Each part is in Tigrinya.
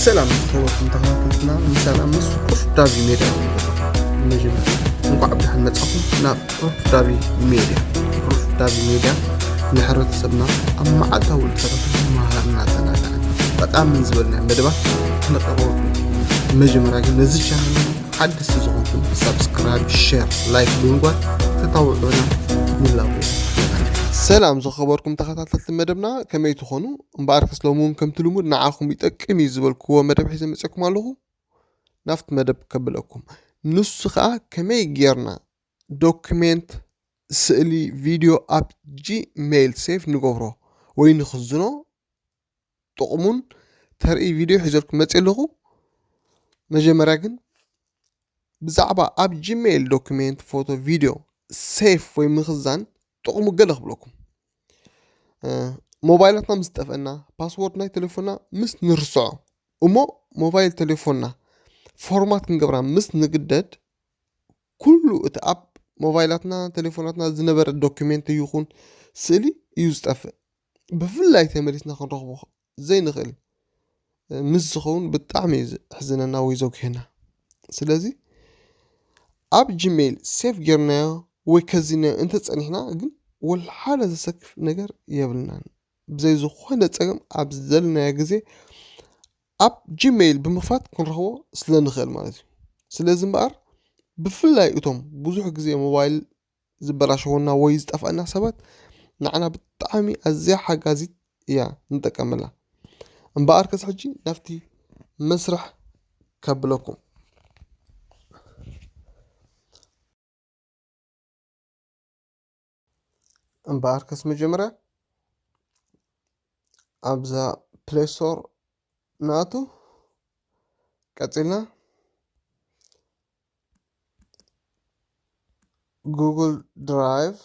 ሰላም ዝኸበርኩም ተኸታተልትና ምሳና ምስ ቁርፍ ዳቢ ሜድያ መጀመርያ እንኳዕ ብድሓን መጻኹም ናብ ቁርፍ ዳቢ ሜድያ ቁርፍ ዳቢ ሜድያ ንሕብረተሰብና ኣብ መዓልታዊ ልተረፍ መሃርና ተናጋዕን ጠቃምን ዝበልና መደባት ክነቀርበልኩም መጀመርያ ግን ነዚ ቻናል ሓድስቲ ዝኾንኩም ሳብስክራይብ ሸር ላይክ ብምግባር ተታውዑና ንላቦ ሰላም ዝኸበርኩም ተኸታተልቲ መደብና ከመይ ትኾኑ እምበኣር ከስ ሎሚ እውን ከምቲ ልሙድ ንዓኹም ይጠቅም እዩ ዝበልክዎ መደብ ሒዘ መፅኩም ኣለኹ ናብቲ መደብ ከብለኩም ንሱ ከዓ ከመይ ጌርና ዶክሜንት ስእሊ ቪድዮ ኣብ ጂሜይል ሴፍ ንገብሮ ወይ ንኽዝኖ ጥቕሙን ተርኢ ቪድዮ ሒዘልኩም መፂእ ኣለኹ። መጀመርያ ግን ብዛዕባ ኣብ ጂሜይል ዶክሜንት ፎቶ ቪድዮ ሴፍ ወይ ምኽዛን ጥቕሙ ገለ ክብለኩም ሞባይላትና ምስ ጠፍአና ፓስወርድ ናይ ቴሌፎንና ምስ ንርስዖ እሞ ሞባይል ቴሌፎንና ፎርማት ክንገብራ ምስ ንግደድ ኩሉ እቲ ኣብ ሞባይላትና ቴሌፎናትና ዝነበረ ዶክሜንት ይኹን ስእሊ እዩ ዝጠፍእ ብፍላይ ተመሊስና ክንረኽቦ ዘይንኽእል ምስ ዝኸውን ብጣዕሚ እዩ ዘሕዝነና ወይ ዘጉህየና ስለዚ ኣብ ጂሜይል ሴፍ ጌርናዮ ወይ ከዚናዮ እንተፀኒሕና ግን ወልሓደ ዘሰክፍ ነገር የብልናን ብዘይ ዝኾነ ፀገም ኣብ ዘለናዮ ግዜ ኣብ ጂሜይል ብምኽፋት ክንረኽቦ ስለንኽእል ማለት እዩ ስለዚ እምበኣር ብፍላይ እቶም ብዙሕ ግዜ ሞባይል ዝበላሸወና ወይ ዝጠፍኣና ሰባት ንዓና ብጣዕሚ ኣዝያ ሓጋዚት እያ ንጠቀመላ። እምበኣር ከስ ሕጂ ናብቲ መስርሕ ከብለኩም። እምበኣር ከስ መጀመርያ ኣብዛ ፕሌይ ስቶር ንኣቱ ቀፂልና ጉግል ድራይቭ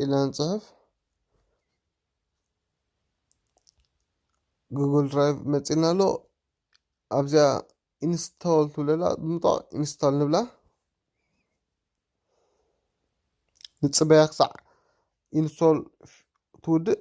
ኢልና ንፅሕፍ ጉግል ድራይቭ መፂና ኣሎ ኣብዚኣ ኢንስቶል ትብለላ ብምጣቕ ኢንስቶል ንብላ ንፅበያ ክሳዕ ኢንስቶል ትውድእ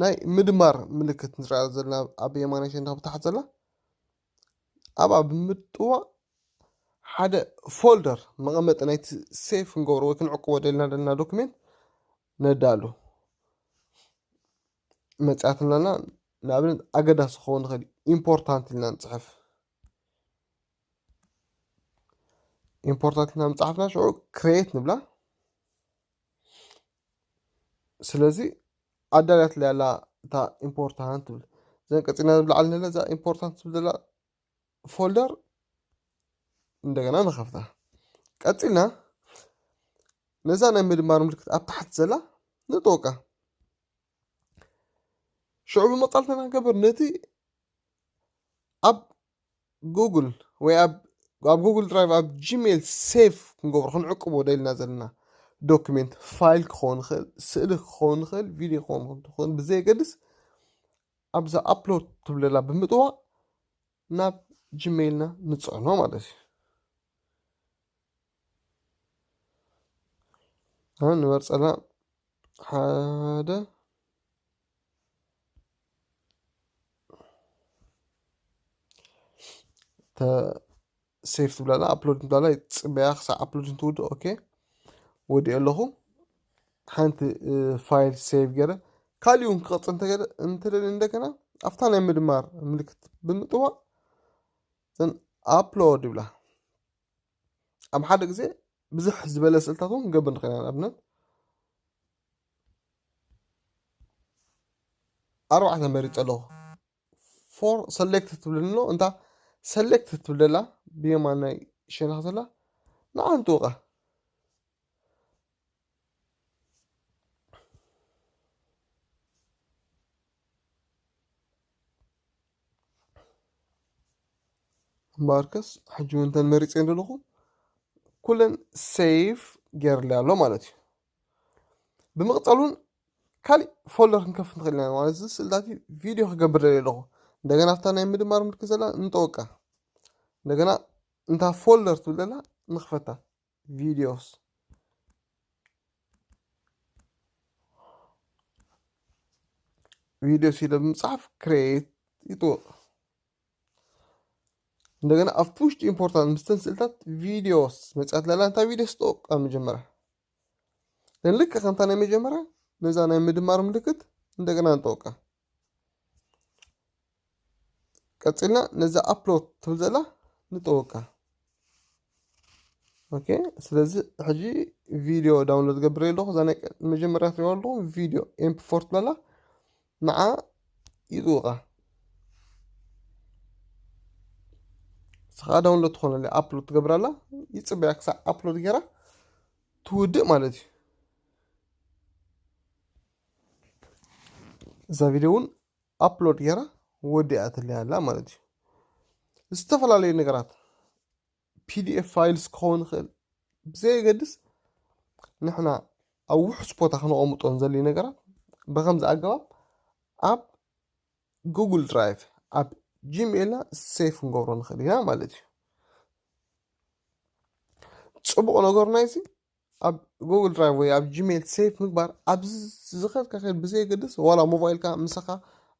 ናይ ምድማር ምልክት ንሪኣ ዘለና ኣብ የማናይ ሸነኽ ብታሕቲ ዘላ ኣብኣ ብምጥዋቕ ሓደ ፎልደር መቐመጢ ናይቲ ሴፍ ክንገብሮ ወይ ክንዕቅቦ ደልና ደልና ዶክሜንት ነዳሉ መፅያት ኣለና ንኣብነት ኣገዳሲ ክኸውን ይኽእል እዩ ኢምፖርታንት ኢልና ንፅሕፍ ኢምፖርታንት ኢልና ምፅሓፍና ሽዑ ክሬት ንብላ ስለዚ ኣዳልያትለይ ኣላ እታ ኢምፖርታንት ትብል ዘን ቀፂልና ንብላዓል ንለ እዛ ኢምፖርታንት ትብል ዘላ ፎልደር እንደገና ንኸፍታ ቀፂልና ነዛ ናይ ምድማር ምልክት ኣብ ታሕቲ ዘላ ንጠወቃ ሽዑ ብምቃል ተናገበር ነቲ ኣብ ጉግል ወይ ኣብ ኣብ ጉግል ድራይቭ ኣብ ጂሜል ሴቭ ክንገብሮ ክንዕቅቦ ደልና ዘለና ዶክሜንት ፋይል ክኸውን ይኽእል ስእሊ ክኸውን ይኽእል ቪድዮ ክኸውን ይኽእል ብዘየገድስ ኣብዛ ኣፕሎድ ትብለላ ብምጥዋቕ ናብ ጂሜይልና ንፅዕኖ ማለት እዩ ንመርፀና ሓደ ሴፍ ትብላ ኣላ ኣፕሎድ ትብላ ኣላ ፅበያ ክሳብ ኣፕሎድ እንትውድእ ኦኬ ወዲኦ ኣለኹ ሓንቲ ፋይል ሴቭ ገይረ ካልእ እውን ክቐፅል እንተገለ እንተደለ እንደገና ኣብታ ናይ ምድማር ምልክት ብምጥዋቕ ዘን ኣፕሎድ ይብላ ኣብ ሓደ ግዜ ብዙሕ ዝበለ ስእልታት እውን ክንገብር ንኽእል ኢና ንኣብነት ኣርባዕተ መሪፀ ኣለኹ ፎር ሰሌክት ትብለኒ ኣሎ እንታ ሰሌክት ትብል ዘላ ብየማናይ ሸነኽ ዘላ ንዓ ንጥውቃ እምበኣርከስ ሕጂ እውን እተን መሪፀን ዘለኹ ኩለን ሴቭ ገይረለይ ኣሎ ማለት እዩ ብምቕፃል እውን ካሊእ ፎልደር ክንከፍት ንኽእል ኢና ማለት እዚ ስእልታት እዩ ቪድዮ ክገብር ደልየ ኣለኹ እንደገና ኣብታ ናይ ምድማር ምልክት ዘላ ንጠወቃ እንደገና እንታ ፎልደር ትብል ዘላ ንኽፈታ ቪድዮስ ቪድዮስ ኢለ ብምፅሓፍ ክሬት ይጥወቅ እንደገና ኣብ ፑሽ ቱ ኢምፖርታንት ምስተን ስእልታት ቪዲዮስ መፅያት ላላ እንታይ ቪዲዮስ ጥቕ ኣብ መጀመርያ ግን ልክ ከምታ ናይ መጀመርያ ነዛ ናይ ምድማር ምልክት እንደገና ንጠውቃ ቀፂልና ነዛ ኣፕሎድ ትብል ዘላ ንጠውቃ ኦኬ ስለዚ ሕጂ ቪድዮ ዳውንሎድ ገብረ ኣለኹ እዛ ናይ መጀመርያ ትሪእዋ ኣለኹ ቪድዮ ኤምፕ ፎር ትበላ ንዓ ይጥውቓ ስኻ ዳውንሎድ ትኾነለ ኣፕሎድ ትገብራላ ይፅበያ ክሳዕ ኣፕሎድ ገይራ ትውድእ ማለት እዩ እዛ ቪድዮ እውን ኣፕሎድ ጌራ ወዲኣትለይ ኣላ ማለት እዩ። ዝተፈላለዩ ነገራት ፒዲኤፍ ፋይልስ ክኸውን ይኽእል ብዘየገድስ ንሕና ኣብ ውሑስ ቦታ ክነቐምጦ ዘልዩ ነገራት ብከምዚ ኣገባብ ኣብ ጉግል ድራይቭ ኣብ ጂሜልና ሴፍ ክንገብሮ ንኽእል ኢና ማለት እዩ ፅቡቕ ነገሩ ናይዚ ኣብ ጎግል ድራይቭ ወይ ኣብ ጂሜል ሴፍ ምግባር ኣብ ዝኸድካ ከድ ብዘየገድስ ዋላ ሞባይልካ ምሳኻ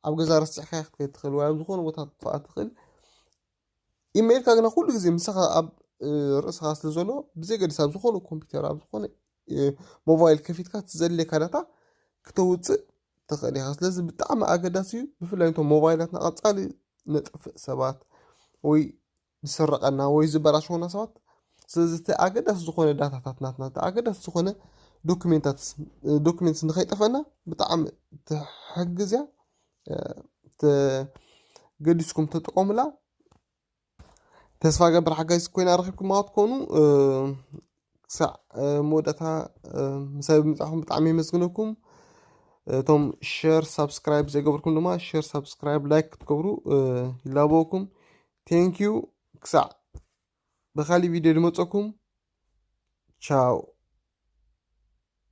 ኣብ ገዛ ረስዕካ ክትከድ ትኽእል ወይ ኣብ ዝኾነ ቦታ ክትጥፋኣ ትኽእል ኢሜይልካ ግና ኩሉ ግዜ ምሳኻ ኣብ ርእስኻ ስለ ዘሎ ብዘየገድስ ኣብ ዝኾነ ኮምፒውተር ኣብ ዝኾነ ሞባይል ከፊትካ ትዘድልየካ ዳታ ክተውፅእ ትኽእል ኢኻ ስለዚ ብጣዕሚ ኣገዳሲ እዩ ብፍላይ እቶም ሞባይላትና ቀፃሊ ነጥፍእ ሰባት ወይ ዝስረቐና ወይ ዝበላሸወና ሰባት ስለዚ እቲ ኣገዳሲ ዝኾነ ዳታታት ናትና እቲ ኣገዳሲ ዝኾነ ዶክሜንትስ ንኸይጠፈና ብጣዕሚ ትሕግዝ እያ ገዲስኩም ተጠቐሙላ ተስፋ ገብር ሓጋዚ ኮይና ረኪብኩማ ክትኮኑ ክሳዕ መወዳእታ ምሳይ ብምጻኹም ብጣዕሚ የመስግነኩም እቶም ሸር ሳብስክራይብ ዘይገበርኩም ድማ ሸር ሳብስክራይብ ላይክ ክትገብሩ ይላበወኩም ቴንኪዩ ክሳዕ ብካሊእ ቪድዮ ድመፀኩም ቻው